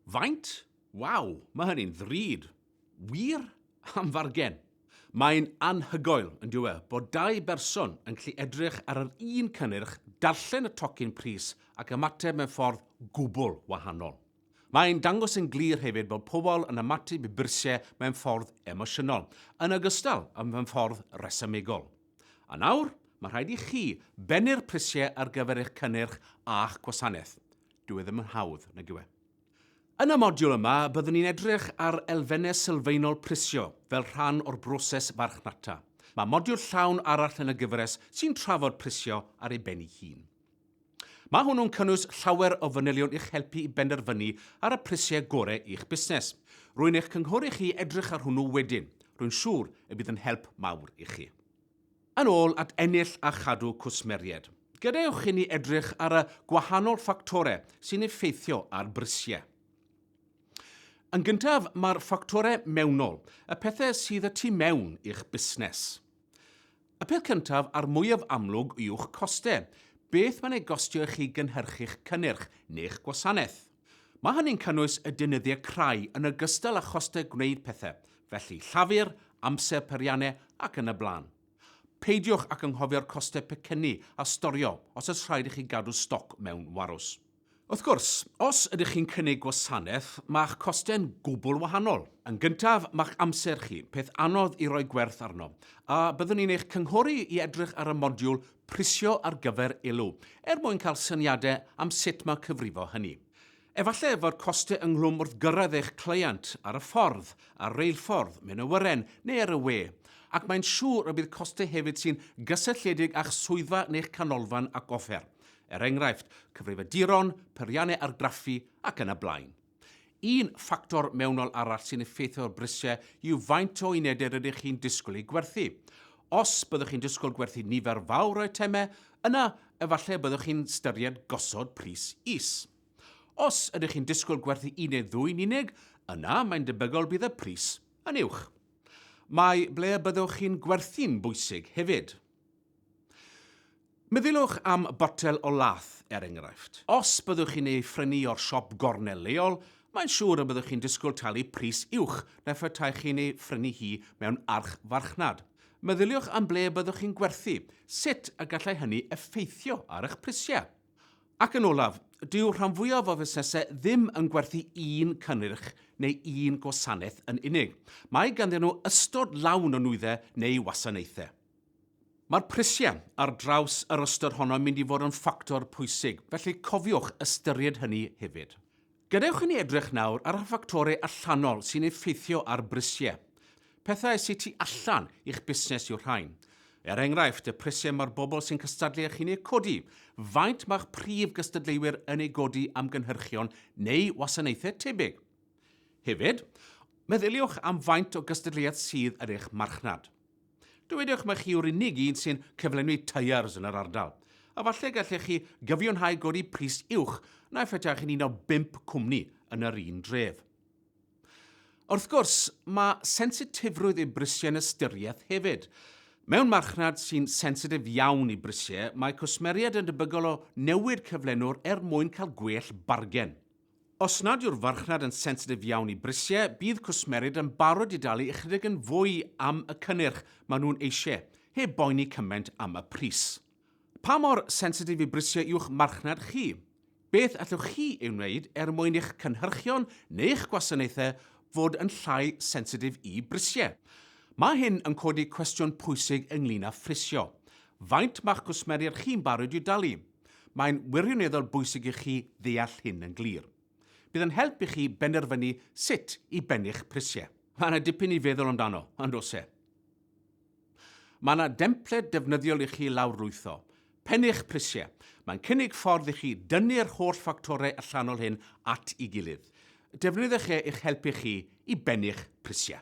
Faint? Waw, mae hynny'n ddrud. Wir? Am fargen? Mae'n anhygoel, yn dyw e, bod dau berson yn gallu edrych ar yr un cynnyrch, darllen y tocyn pris ac ymateb mewn ffordd gwbl wahanol. Mae'n dangos yn glir hefyd bod pobl yn ymateb i byrsiau mewn ffordd emosiynol, yn ogystal â mewn ffordd resymegol. A nawr, mae rhaid i chi bennu'r prisiau ar gyfer eich cynnyrch a'ch gwasanaeth. Dyw e ddim yn hawdd, nag yw e? Yn y modiwl yma, byddwn ni'n edrych ar elfennau sylfaenol prisio fel rhan o'r broses farchnata. Mae modiwl llawn arall yn y gyfres sy'n trafod prisio ar ei ben ei hun. Mae hwnnw'n cynnwys llawer o fanylion i'ch helpu i benderfynu ar y prisiau gorau i'ch busnes. Rwy'n eich cynghori chi i edrych ar hwnnw wedyn. Rwy'n siŵr y bydd yn help mawr i chi. Yn ôl at ennill a chadw cwsmeriaid, gadewch i ni edrych ar y gwahanol ffactorau sy'n effeithio ar brisiau. Yn gyntaf, mae'r ffactorau mewnol, y pethau sydd y tu mewn i'ch busnes. Y peth cyntaf a'r mwyaf amlwg yw'ch costau, beth mae'n ei gostio i chi gynhyrchu'ch cynnyrch neu'ch gwasanaeth. Mae hynny'n cynnwys y deunyddiau crai yn ogystal â chostau gwneud pethau, felly llafur, amser, peiriannau ac yn y blaen. Peidiwch ag anghofio'r costau pecynnu a storio os oes rhaid i chi gadw stoc mewn warws. Wrth gwrs, os ydych chi'n cynnig gwasanaeth, mae'ch costau'n gwbl wahanol. Yn gyntaf, mae'ch amser chi, peth anodd i roi gwerth arno, a byddwn ni'n eich cynghori i edrych ar y modiwl 'Prisio ar gyfer Elw' er mwyn cael syniadau am sut mae cyfrifo hynny. Efallai fod costau ynghlwm wrth gyrraedd eich cleient, ar y ffordd, ar reilffordd, mewn awyren, neu ar y we, ac mae'n siŵr y bydd costau hefyd sy'n gysylltiedig â'ch swyddfa neu'ch canolfan ac offer. er enghraifft, cyfrifiaduron, peiriannau argraffu ac yn y blaen. Un ffactor mewnol arall sy'n effeithio ar brisiau yw faint o unedau rydych chi'n disgwyl eu gwerthu. Os byddwch chi'n disgwyl gwerthu nifer fawr o eitemau, yna efallai y byddwch chi'n ystyried gosod pris is. Os ydych chi'n disgwyl gwerthu un neu ddwy yn unig, yna mae'n debygol bydd y pris yn uwch. Mae ble y byddwch chi'n gwerthu'n bwysig hefyd. Meddyliwch am botel o lath, er enghraifft. Os byddwch chi'n ei phrynu o'r siop gornel leol, mae'n siŵr y byddwch chi'n disgwyl talu pris uwch na phetaech chi'n ei phrynu hi mewn archfarchnad. Meddyliwch am ble byddwch chi'n gwerthu, sut y gallai hynny effeithio ar eich prisiau. Ac yn olaf, dyw rhan fwyaf o fusnesau ddim yn gwerthu un cynnyrch neu un gwasanaeth yn unig. Mae ganddyn nhw ystod lawn o nwyddau neu wasanaethau. Mae'r prisiau ar draws yr ystyr honno yn mynd i fod yn ffactor pwysig, felly cofiwch ystyried hynny hefyd. Gadewch i ni edrych nawr ar y ffactorau allanol sy'n effeithio ar brisiau. Pethau sy tu allan i'ch busnes yw'r rhain. Er enghraifft, y prisiau mae'r bobl sy'n cystadlu â chi'n eu codi, faint mae'ch prif gystadleuwyr yn ei godi am gynhyrchion neu wasanaethau tebyg. Hefyd, meddyliwch am faint o gystadleuaeth sydd yn eich marchnad. Dywedwch mai chi yw'r unig un sy'n cyflenwi tyres yn yr ardal, a falle gallech chi gyfiawnhau godi pris uwch na phetach chi'n un o bump cwmni yn yr un dref. Wrth gwrs, mae sensitifrwydd i brisiau yn ystyriaeth hefyd. Mewn marchnad sy'n sensitif iawn i brisiau, mae cwsmeriaid yn debygol o newid cyflenwr er mwyn cael gwell bargen. Os nad yw'r farchnad yn sensitif iawn i brisiau, bydd cwsmerid yn barod i dalu ychydig yn fwy am y cynnyrch maen nhw'n eisiau, heb boeni cymaint am y pris. Pa mor sensitif i brisiau yw'ch marchnad chi? Beth allwch chi ei wneud er mwyn i'ch cynhyrchion neu'ch gwasanaethau fod yn llai sensitif i brisiau? Mae hyn yn codi cwestiwn pwysig ynglŷn â phrisio. Faint mae'ch cwsmeriad chi'n barod i'w dalu? Mae'n wirioneddol bwysig i chi ddeall hyn yn glir. Bydd yn help i chi benderfynu sut i bennu'ch prisiau. Mae yna dipyn i feddwl amdano, yn does e? Mae yna dempled defnyddiol i chi lawrlwytho. Pennu'ch prisiau. Mae'n cynnig ffordd i chi dynnu'r holl ffactorau allanol hyn at i gilydd. Defnyddiwch e i'ch helpu chi i bennu'ch prisiau.